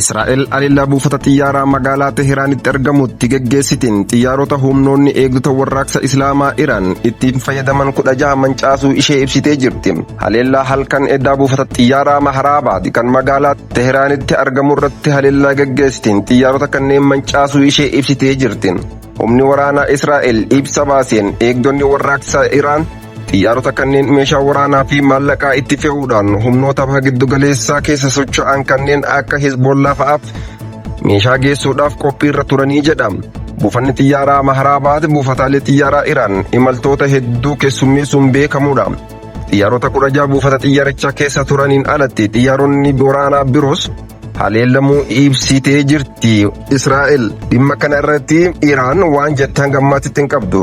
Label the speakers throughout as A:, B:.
A: Israa'el haleellaa buufata xiyyaaraa magaalaa Tehiraanitti argamutti geggeessitiin xiyyaarota humnoonni eegdota warraaqsa Islaamaa Iraan ittiin fayyadaman kudha jaha mancaasuu ishee ibsitee jirti. Haleellaa halkan eddaa buufata xiyyaaraa Maharaabaadi kan magaalaa Tehiraanitti argamu irratti haleellaa geggeessitiin xiyyaarota kanneen mancaasuu ishee ibsitee jirti. Humni waraanaa Israa'el ibsa baaseen eegdonni warraaqsa Iraan Xiyyaarota kanneen meeshaa waraanaa fi maallaqaa itti fe'uudhaan humnoota baha giddugaleessaa keessa socho'an kanneen akka Hezbollaa fa'aaf meeshaa geessuudhaaf qophii irra turanii jedha. Buufanni xiyyaaraa Maharaabaad buufataalee xiyyaaraa Iraan imaltoota hedduu keessummeessuun beekamudha. Xiyyaarota kudha jaha buufata xiyyaarichaa keessa turaniin alatti xiyyaaronni waraanaa biroos haleelamuu ibsitee jirti. Israa'el dhimma kana irratti Iraan waan jettan gammaatti hin qabdu.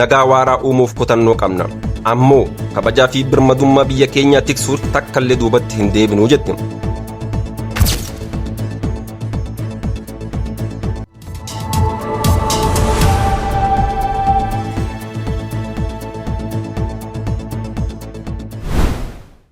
A: Nagaa waaraa uumuuf kutannoo qabna. Ammoo kabajaa fi birmadummaa biyya keenyaa tiksuuf takkallee duubatti hin deebinu jette.